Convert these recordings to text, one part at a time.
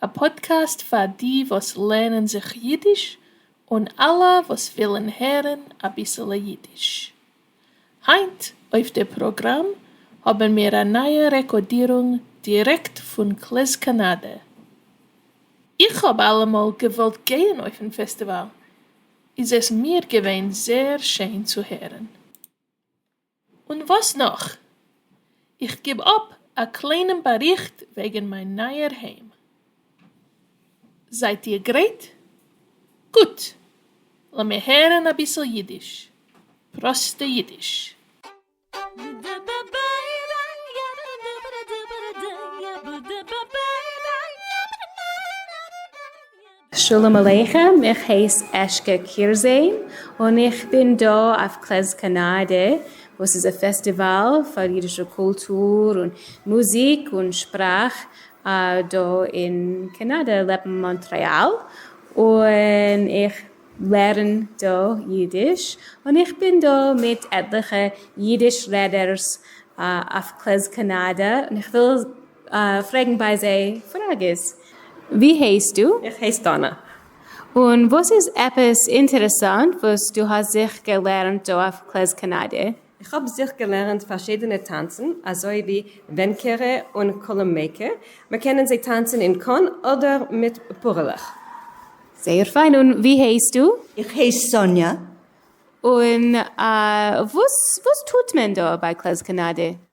א פאדקעסט פאר די וואס לערנען זיך אידיש און אלע וואס ווילן הערן אביסעלע אידיש. היינט אויף די פראגראם האבן מיר א נייע רעקאדירונג דירעקט פון קלעז קאנאדע. איך האב אלעמאל געוואלט גייען אויפן פעסטיוואל, איז עס מיר געווען זעהר שיין צו הערן. און וואס נאך? איך גיב אפ א קליינעם באריכט וועגן מיין נייער היים. זייט איר גרייט? גוט! לאמיר הערן אביסל אידיש, פראסטע אידיש. שלום עליכם, איך הייס אשקע קירזען און איך בין דא אויף קלעז קאנאדע וואס איז א פעסטיוואל פאר אידישע קולטור און מוזיק און שפראך דא אין קאנאדע לעבן מאנטרעאל און איך לערן דא אידיש און איך בין דא מיט עטליכע אידיש רעדערס אויף קלעז קאנאדע און איך וויל פרעגן ביי זיי פראגעס. ווי הייסטו? איך הייס דאנא. און וואס איז עפעס אינטערעסאנט וואס דו האסט זיך געלערנט דא אויף קלעז קאנאדע? איך האב זיך געלערנט פארשידענע טאנצן אזוי ווי ווענקערע און קולומעיקע, מען קענען זיי טאנצן אין קאן אדער מיט פארעלעך. זייער פיין. און ווי הייסטו? איך הייס סאניא. און וואס טוט מען דא ביי קלעז קאנאדע?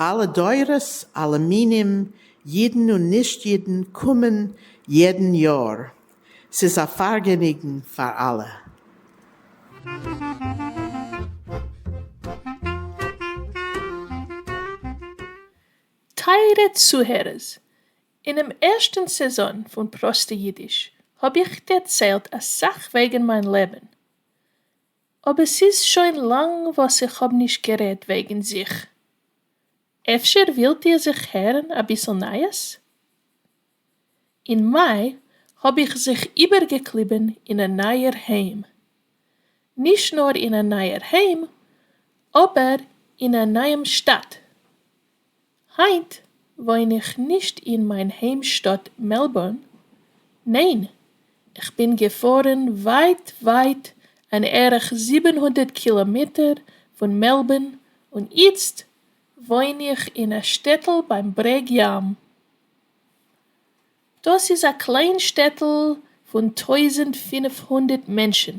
אלע דורות, אלע מינים, אידן און נישט אידן קומען יעדן יאר, ס'איז א פארגעניגן פאר אלע. טייערע צוהערערס, אינעם ערשטן סעזאן פון פראסטע אידיש האב איך דערציילט אסאך וועגן מיין לעבן, אבער ס'איז שוין לאנג וואס איך האב נישט גערעדט וועגן זיך, אפשר ווילט איר זיך הערן אביסל נייעס? אין מאי האב איך זיך איבערגעקליבן אין א נייער היים, נישט נאר אין א נייער היים אבער אין א נייעם שטאט, היינט וואוין איך נישט אין מיין היימשטאט מעלבורן, ניין, כ'בין געפארן ווייט ווייט אן ערך זיבן הונדערט קילאמעטער פון מעלבורן און איצט וואוין איך אין א שטעטל ביים ברעג ים. דאס איז א קליין שטעטל פון טויזנט פֿינף הונדערט מענטשן.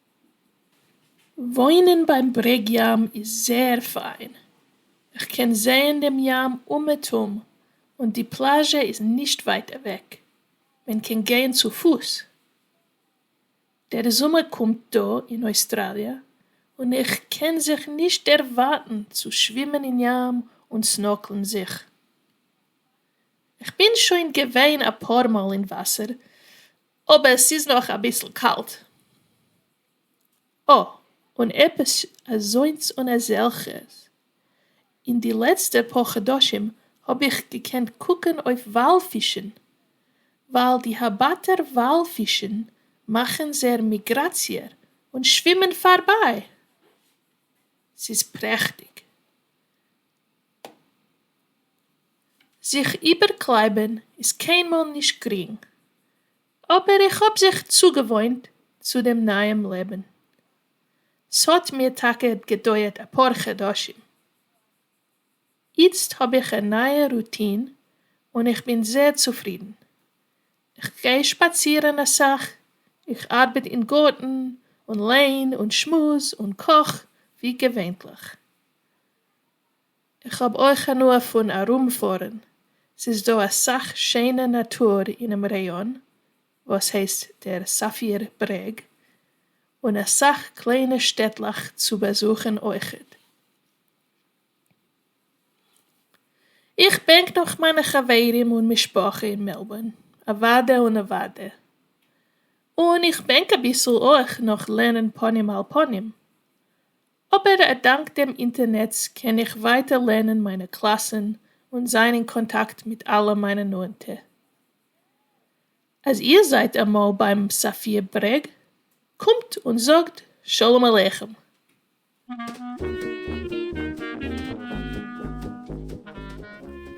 וואוינען ביים ברעג ים איז זעהר פיין, איך קען זעהן דעם ים אומעטום, און די פלאזשע איז נישט ווייט אוועק, מען קען גיין צו פוס. דער זומער קומט דא אין אוסטראליע, און איך קען זיך נישט דערווארטן צו שווימען אין ים און סנארקלן זיך. איך בין שוין געווען אפאר מאל אין וואסער, אבער ס'איז נאך אביסל קאלט. אה, און עפעס אזוינס און אזעלכעס. אין די לעצטע פאר חדשים האב איך געקענט קוקן אויף וואל פישן, ווייל די הבאטער וואל פישן מאכן זייער מיגראציע און שווימען פארביי. ס'איז פרעכטיג. זיך איבערקלייבן איז קיינמאל נישט גרינג, אבער איך האב זיך צוגעוואוינט צו דעם נייעם לעבן. ס'האט מיר טאקע געדויערט אפאר חדשים. איצט האב איך א נייע רוטין און איך בין זייער צופרידן. כ'גיי שפאצירן אסאך, איך ארבעט אין גארטן און ליין און שמועס און קאך ווי געווענטליך. איך האב אויך הנאה פון ארומפארן, ס'איז דא אסאך שיינע נאטור אינעם ראיאן וואס הייסט דער סאפיר ברעג, און אסאך קליינע שטעטלעך צו באזוכן אויכעט. איך בענק נאך מיינע חברים און משפחה אין מעלבארן, אוואדע און נעוואדע. און איך בענק אביסל אויך נאך לערנען פנים אל פנים. אבער א דאנק דעם אינטערנעץ קען איך ווייטער לערנען מיינע קלאסען און זיין אין קאנטאקט מיט אלע מיינע נאענטע. אז איר זייט אמאל ביים סאפיר ברעג, קומט און זאגט שלום עליכם.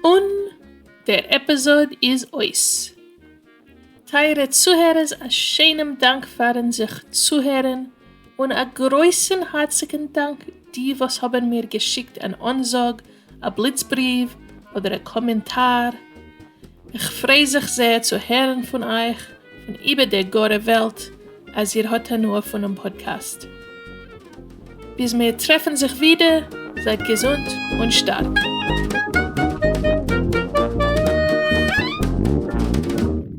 און דער עפיזאד איז אויס. טייערע צוהערערס א שיינעם דאנק פארן זיך צוהערן, און א גרויסן הארציגן דאנק די וואס האבן מיר געשיקט אן אנזאג, א בליץ בריוו, אדער א קאמענטאר. איך פריי זיך זייער צו הערן פון אייך פון איבער דער גארער וועלט אז איר האט הנאה פונעם פאדקעסט. ביז מיר טרעפן זיך ווידער, זייט געזונט און שטארק.